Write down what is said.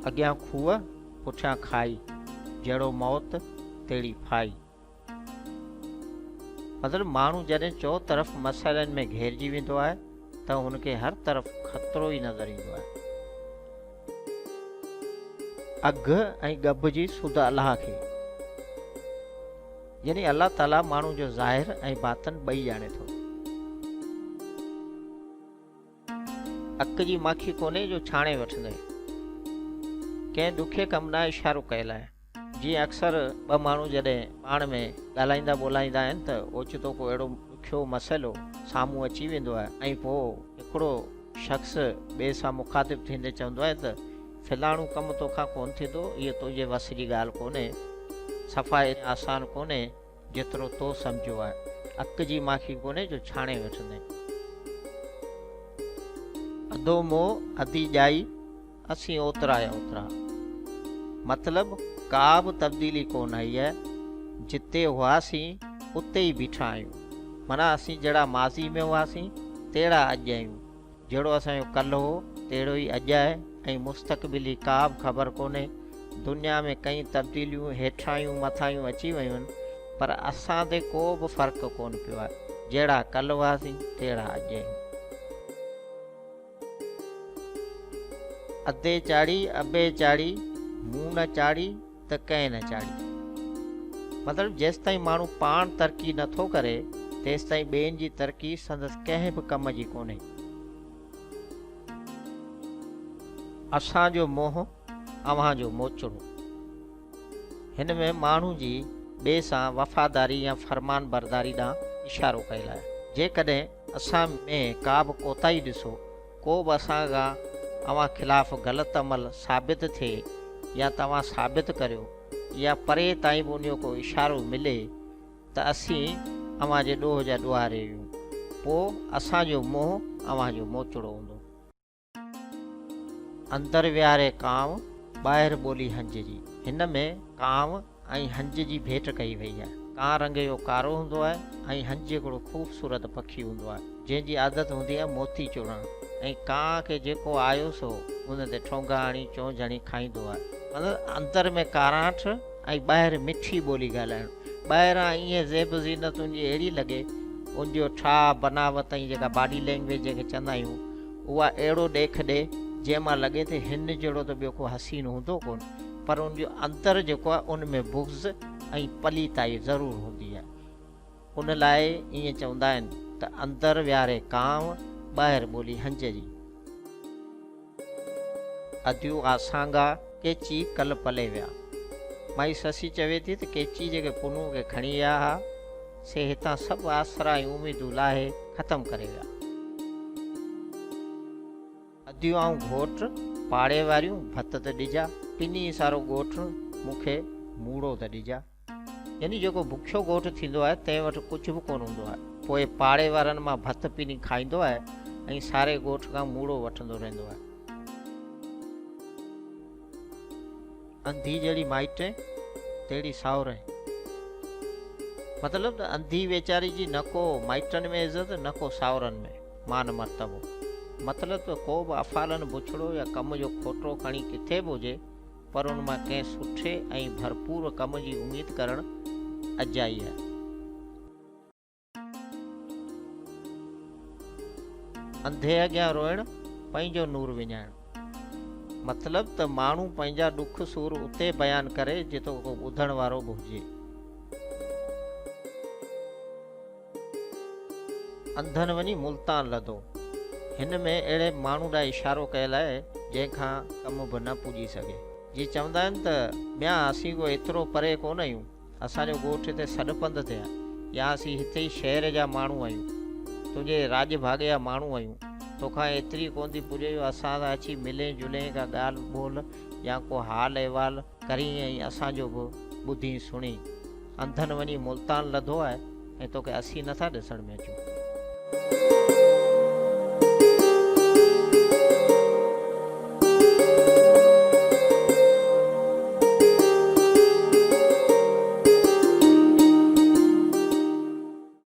اڳيان کوهه پٺيان کائي، جهڙو موت تهڙي ڦائي. مطلب ماڻهو جڏهن چوطرف مسئلن ۾ گهيرجي ويندو آهي ته هن کي هر طرف خطرو ئي نظر ايندو آهي. اگهه ۽ ڳڀ جي سڌ الله کي يعني الله تعاليٰ ماڻهو جو ظاهر ۽ باطن ٻئي ڄاڻي ٿو. اک جي ماکي ڪونهي جو ڇاڻي وٺندين. ڪنهن ڏکي ڪم ڏانهن اشارو ڪيل آهي. جيئن اڪثر ٻه ماڻهو جڏهن پاڻ ۾ ڳالهائيندا ٻولهائيندا آهن ته اوچتو ڪو اهڙو ڏکيو مسئلو سامهون اچي ويندو آهي ۽ پوء هڪڙو شخص ٻئي سان مخاطب ٿيندي چوندو آهي ته فلاڻو ڪم توکان ڪونه ٿيندو، هيء تنهنجي وس جي ڳالهه ڪونهي، صفا ايتري آسان ڪونهي. جيترو تو سمجهيو آهي. اڪ جي ماکي ڪونهي جو ڇاڻي وٺندين. اڌو موهه اڌي ڄائي اسين اوترا يا اوترا. مطلب ڪا به تبديلي ڪونه آئي آهي. جتي هئاسين اتي ئي بيٺا آهيون. معنيٰ اسين جهڙا ماضي ۾ هئاسين تهڙا اڄ آهيون. جهڙو اسان جو ڪلھ هو تهڙو ئي اڄ آهي ۽ مستقبل جي ڪابه خبر ڪونهي. دنيا ۾ ڪئين تبديليون هيٺاهيون مٿاهيون اچي ويون پر اسان تي ڪو به فرق ڪونه پيو آهي. جهڙا ڪلھ هئاسين تهڙا اڄ آهيون. ادي چاڙهي، ابي چاڙهي، مون نه چاڙهي. ته ڪنهن نه چاڙهي. مطلب جيستائين ماڻهو پاڻ ترقي نه ٿو ڪري تيستائين ٻين جي ترقي سندس ڪنهن به ڪم جي ڪونهي. اسان جو منهن اوهان جو موچڙو. هن ۾ ماڻهو جي ٻئي سان وفاداري يا فرمان برداري ڏانهن اشارو ڪيل آهي. جيڪڏهن اسان ۾ ڪا به ڪوتاهي ڏسو ڪو به اسان کان اوهان خلاف غلط عمل ثابت ٿئي يا توهان ثابت ڪريو يا پري تائين به انهيو ڪو اشارو ملي ته اسين اوهان جي ڏوهه جا ڏوهاري آهيون پوء اسان جو منهن اوهان جو موچڙو هوندو. اندر ويهاري ڪانء، ٻاهر ٻولي هنجري. هن ۾ ڪانء ۽ هنج جي ڀيٽ ڪئي وئي آهي. ڪان رنگيو ڪارو هوندو آهي ۽ هنج هڪڙو خوبصورت پکي هوندو آهي، جنهن جي عادت هوندي آهي موتي چوڻڻ ۽ ڪان کي جيڪو آيو سو ان تي ٺونگا هڻي چونچ هڻي کائيندو آهي. مطلب اندر ۾ ڪاراٺ ۽ ٻاهر مٺي ٻولي ڳالهائڻ. ٻاهران ايئن زيب و زينت ان جي اهڙي لڳي، ان جو ٺاهه، بناوت ۽ جيڪا باڊي لينگويج جنهن کي چوندا آهيون، اها اهڙو ڏيک ڏئي، جنهن مان لڳي ته هن جهڙو ته ٻيو ڪو حسين هوندو ڪونه. پر ان جو اندر جيڪو آهي ان ۾ بغض ۽ پليتائي ضرور هوندي آهي. ان لاء ائين چوندا آهن ته اندر ويهاري ڪانء، ٻاهر ٻولي هنج جي. اديو آ سانگا، ڪيچي ڪل پلي ويا. مائي سسي چوي ٿي ته ڪيچي جيڪي پنهون کي کڻي ويا ها، سي هتان سڀ آسرا ۽ اميدون لاهي ختم ڪري ويا. اديون آئون گهوٽ، پاڙي واريون ڀت ته ڏجا، پني سارو ڳوٺ، مون کي موڙو ته ڏجا. يعني جيڪو بکيو ڳوٺ ٿيندو آهي، تنهن وٽ ڪجهه به ڪونه هوندو آهي، پوء پاڙي وارن مان ڀت پني کائيندو آهي ۽ ساري ڳوٺ کان موڙو وٺندو رهندو آهي. انڌي جهڙي مائٽي، تهڙي ساهوري. مطلب ته انڌي ويچاري جي نه ڪو مائٽن ۾ عزت، نه ڪو ساهورن ۾. مان مرتبو. مطلب ته ڪو به افعالن بڇڙو يا ڪم جو کوٽو کڻي ڪٿي به هجي پر ان مان ڪنهن سٺي ۽ ڀرپور ڪم جي اميد ڪرڻ اجائي آهي. انڌي اڳيان روئڻ پنهنجو نور وڃائڻ. مطلب ته ماڻهو پنهنجا ڏک سور اتي بيان ڪري جتي ڪو ٻڌڻ وارو به هجي. انڌن وڃي ملتان لڌو. هن ۾ اهڙي ماڻهو ڏانهن اشارو ڪيل آهي، جنهن کان ڪم به نه پڄي سگهي. جي چوندا آهن ته، ميان اسين ڪو ايترو پري ڪونه آهيون، اسان جو ڳوٺ هتي سڏ پنڌ تي آهي يا اسين هتي ئي شهر جا ماڻهو آهيون. تنهنجي راڄ ڀاڳي جا ماڻهو آهيون. توکان ايتري ڪونه ٿي پڄي جو اسان سان اچي ملين جلين ڪا ڳالهه ٻولهه يا ڪو حال احوال ڪرين ۽ اسان جو به ٻڌين سڻين. انڌن وڃي ملتان لڌو آهي ۽ توکي اسين نه ٿا ڏسڻ ۾ اچون.